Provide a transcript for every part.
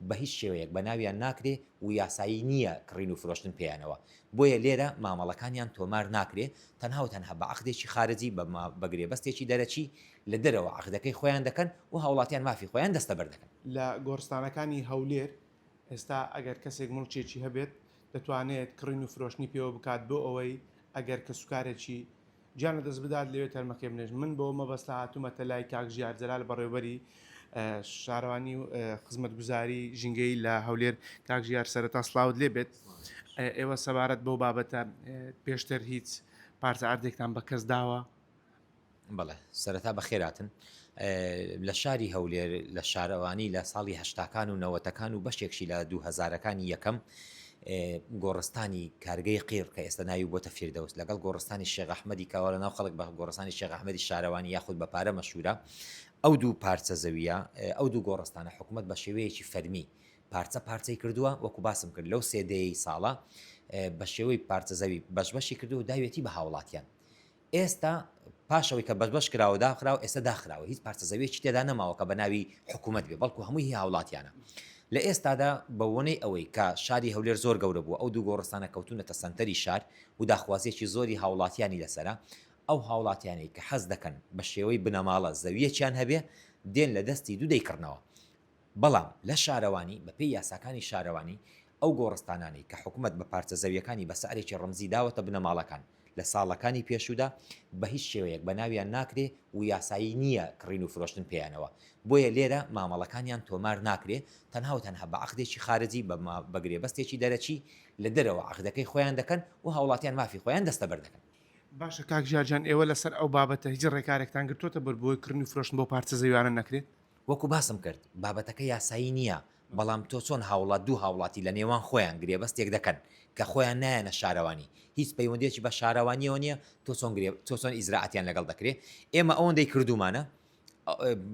بە هیچ شێوەیەک بە ناویان ناکرێ و یاسایی نییە کڕین و فرۆشتن پێیانەوە، بۆیە لێرە مامەڵەکانیان تۆمار ناکرێ، تەنها و تەنها بە عەقدێکی خارجی، بە گرێبەستێکی دەرەکی لە دەرەوە عەقدەکەی خۆیان دەکەن و هاوڵاتیان مافی خۆیان دەستەبەر دەکەن. لە گۆڕستانەکانی هەولێر ئێستا ئەگەر کەسێک موڵکێکی هەبێت دەتوانێت کڕین و فرۆشتنی پێوە بکات بۆ ئەوەی ئەگەر کەسوکارێکی گیان لەدەست بدات لەوێ تەرمەکەی بنێژن من بەوە مەبەستە هاتوومەتە لای کاک ژیار جەلال بەڕێوبەری شارەوانی و خزمەتگوزاری ژینگەی لە هەولێر کاک ژیار سەرەتا سلااوت لێ بێت ئێوە سەبارەت بەو بابەتە پێشتر هیچ پارچە ئاردێکتان بە کەس داوە بەڵێ سەرەتا بە خێراتن لە شاری هەولێر لە شارەوانی لە ساڵی هەشتاکان و نەوەتەکان و بەشێکشی لە دوو هەزارەکانی یەکەم گۆڕستانی کارگەی قیر کە ئێستا ناوی بۆتە فیردەوس لەگەڵ گۆڕستانی شێخ ئەحمەدی کاوە لە ناو خەڵک بە گۆڕستانی شێخ ئەحمەدی شارەوانی یاخود بە پارە مەشهورە ئەو دوو پارچە زەویە ئەو دوو گۆڕستانە حکوومەت بە شێوەیەکی فەرمی پارچە پارچەی کردووە وەکو باسم کرد لەو سێدەی ساڵە بە شێوەی پارچە زەوی بەش بەشی کردو و داوێتی بە هاوڵاتیان ئێستا پاش ئەوەی کە بەشبەش کراوە داخراوە ئێستا داخراوە هیچ پارچە زەویەکی تێدا نەماوە کە بە ناوی حکوومەت بێ بەڵکو هەمووی هی هاوڵاتیانە لە ئێستادا بەوەنەی ئەوەی کە شاری هەولێر زۆر گەورە بووە ئەو دوو گۆڕستانە کەوتونەتە سەنتەری شار و داخوازیەکی زۆری هاوڵاتیانی لەسەرە ئەو هاوڵاتیانەی کە حەز دەکەن بە شێوەی بنەماڵە زەویەکیان هەبێ دێن لە دەستی دوو دەیکڕنەوە بەڵام لە شارەوانی بەپێی یاساکانی شارەوانی ئەو گۆڕستانانەی کە حکومەت بە پارچە زەویەکانی بە سعرێکی ڕەمزی داوەتە بنەماڵەکان لە ساڵەکانی پێشوودا بە هیچ شێوەیەک بە ناویان ناکرێ و یاسایی نییە کڕین و فرۆشتن پێیانەوە بۆیە لێرە مامەڵەکانیان تۆمار ناکرێ تەنها و تەنها بە عەقدێکی خارجی بە گرێبەستێکی دەرەکی لە دەرەوە عەقدەکەی خۆیان دەکەن و هاوڵاتیان مافی خۆیان دەستەبەر دەکەن. باشە کاک ژیار جان ئێوە لەسەر ئەو بابەتە هیچ ڕێکارێکتان گرتۆتە بەر بۆی کڕین و فرۆشتن بەو پارچە زەویانە نەکرێت؟ وەکو باسم کرد بابەتەکە یاسایی نیە بەڵام تۆ چۆن هاوڵات دوو هاوڵاتی لە نێوان خۆیان گرێبەستێک دەکەن کە خۆیان نایەنە شارەوانی هیچ پەیوەندێکی بە شارەوانیەوە نیە تۆ چۆن گرێ تۆ چۆن ئیجرائاتیان لەگەڵ دەکرێ ئێمە ئەوەندەی کردومانە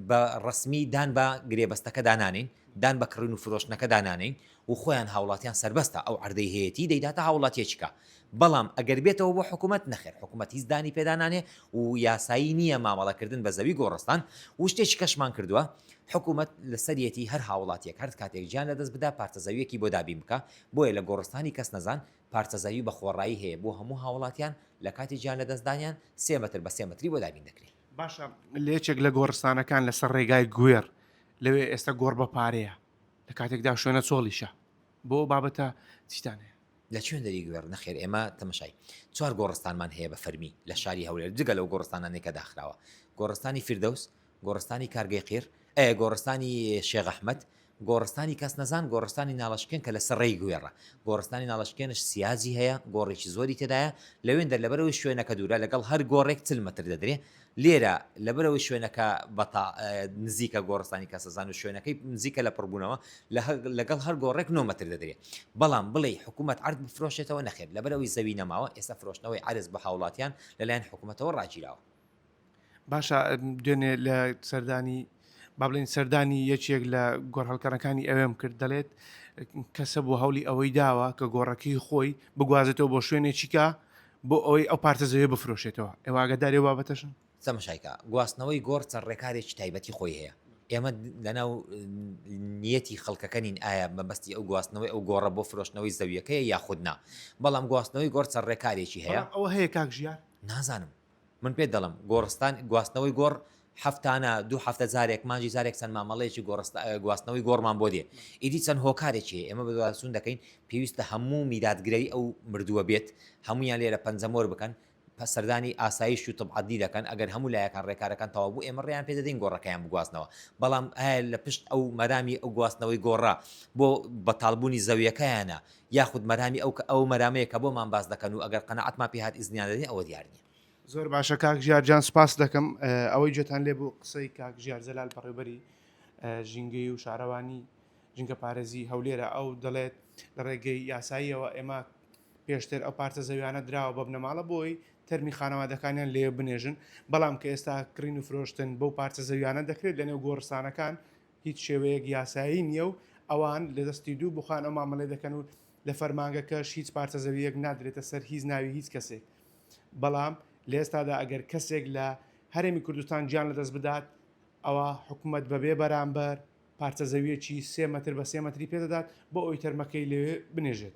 بە ڕەسمی دان بە گرێبەستەکەدا نانێین دان بە کڕین و فرۆشتنەکەدا نانێین و خۆیان هاوڵاتیان سەربەستە ئەو عەردەی هەیەتی دەیداتە هاوڵاتیەکیکە بەڵام ئەگەر بێتەوە بۆ حکومەت نەخێر حکومەت هیچ دانی پێدا نانێ و یاسایی نییە مامەڵە کردن بە زەوی گۆڕستان و شتێکی کەشمان کردوە حکومەت لەسەریەتی هەر هاوڵاتیەک هەر کاتێک گیان لەدەست بدا پارچە زەویەکی بۆ دابین بکا بۆیە لە گۆڕستانی کەس نەزان پارچە زەوی بە خۆڕایی هەیە بۆ هەموو هاوڵاتیان لە کاتی گیان لەدەست دانیان سێ مەتر بە سێ مەتری بۆ دابین دەکرێ. باشە لە یەکێک لە گۆڕستانەکان لەسەر ڕێگای گوێڕ لەوێ ئێستا گۆڕ بە پارەیە. لە کاتێکدا شوێنە چۆڵیشە بۆ بابەتە چیتان هەیە لە چوێن دەری گوێڕ نەخێر ئێمە تەمەشای چوار گۆڕستانمان هەیە بە فەرمی لە شاری هەولێر جگە لەو گۆڕستانانێکە داخراوە گۆڕستانی فردەوس گۆڕستانی کارگەی قیر ئە گۆڕستانی شێغەحمد گۆڕستانی کەس نەزان گۆڕستانی ناڵشکێن کە لە سەرڕێی گوێڕە گۆڕستانی ناڵشکێنش سیازی هەیە گۆڕێکی زۆری تێدایە لەوێن دەر لەبەرەوەی شوێنەکە دوورە لەگەڵ هەر گۆڕێک چل متر دەدرێ لێرە لەبەرەوەی شوێنەکە بەتا نزیکە گۆڕستانی کەسەزان و شوێنەکەی نزیکە لە پڕبوونەوە لەگەڵ هەر گۆڕێک نۆمەتر دەدرێت بەڵام بڵێ حکوومەت عرد بفرۆشێتەوە نەخێت لەبەرەوەی زەوی نەماوە ئێستا فرۆشتنەوەی عرز بە هاوڵاتیان لەلایەن حکوومەتەوە ڕاگیراوە باشە دوێنێ لە سەردانی با بڵێین سەردانی یەکێک لە گۆڕهەڵکەرەکانی ئەوێم کرد دەڵێت کەسە بۆ هەولی ئەوەی داوە کە گۆڕەکەی خۆی بگوازێتەوە بۆ شوێنێکیکە بۆ ئەوەی ئەو پارتە زەوێ بفرۆشێتەوە ئێواگەدارێ بابەتەشن سەمشایکا گواستنەوەی گۆڕ چەند ڕێکارێکی تایبەتی خۆی هەیە ئێمە لەناو نیەتی خەڵکەکەنین ئایا مەبەستی ئەو گواستنەوەی ئەو گۆڕە بۆ فرۆشتنەوەی زەویەکەی یاخودنا بەڵام گواستنەوەی گۆڕ چەند ڕێکارێکی هەیە ئەوە هەیە کاک ژیان نازانم من پێت دەڵێم، گۆڕستان، گواستنەوەی گۆڕ، هەفتانە، دوو هەفتە جارێک، مانگی جارێک چەند مامەڵەیەکی گۆڕست، گواستنەوەی گۆڕمان بۆ دێ. ئیدی چەند هۆکارێکی هەیە، ئێمە بەدواداچوون دەکەین، پێویستە هەموو میراتگرەی ئەو مردووە بێت، هەموویان لێرە پەنجەمۆر بکەن، سەردانی ئاسایش و طب عەدلی دەکەن، ئەگەر هەموو لایەکان رێکارەکان تەواو بوو، ئێمە رێیان پێ دەدەین گۆڕەکەیان بگوازنەوە. بەڵام ئایا لە پشت ئەو مەرامی ئەو گواستنەوەی گۆڕە، بۆ بەتاڵبوونی زەوییەکەیانە، یاخود مەرامی ئەو کە ئەو مەرامەیە کە بۆمان باس دەکەن و ئەگەر قەناعەتمان پێ هات ئیزنیان دەدەین ئەوە دیار نیە. زۆر باشە کاک ژیار جان سپاست دەکەم ئەوەی گوێتان لێ بوو قسەی کاک ژیار جەلال بەڕێوبەری ژینگەی و شارەوانی ژینگە پارێزی هەولێرە ئەو دەڵێت لە ڕێگەی یاساییەوە ئێمە پێشتر ئەو پارچە زەویانە دراوە بە بنەماڵە بۆی تەرمی خانەوادەکانیان لێ بنێژن بەڵام کە ئێستا کڕین و فرۆشتن بەو پارچە زەویانە دەکرێت لەنێو گۆڕستانەکان هیچ شێوەیەک یاسایی نییە و ئەوان لە دەستی دوو بوخان ئەو مامەلەی دەکەن و لە فەرمانگەکەش هیچ پارچە زەوییەک نادرێتە سەر هیچ ناوی هیچ کەسێک بەڵام لە ئێستادا ئەگەر کەسێک لە هەرێمی کوردستان گیان لەدەست بدات ئەوا حکومەت بەبێ بەرامبەر پارچە زەویەکی سێ مەتر بە سێ مەتری پێدەدات بۆ ئەوی تەرمەکەی لەوێ بنێژێت.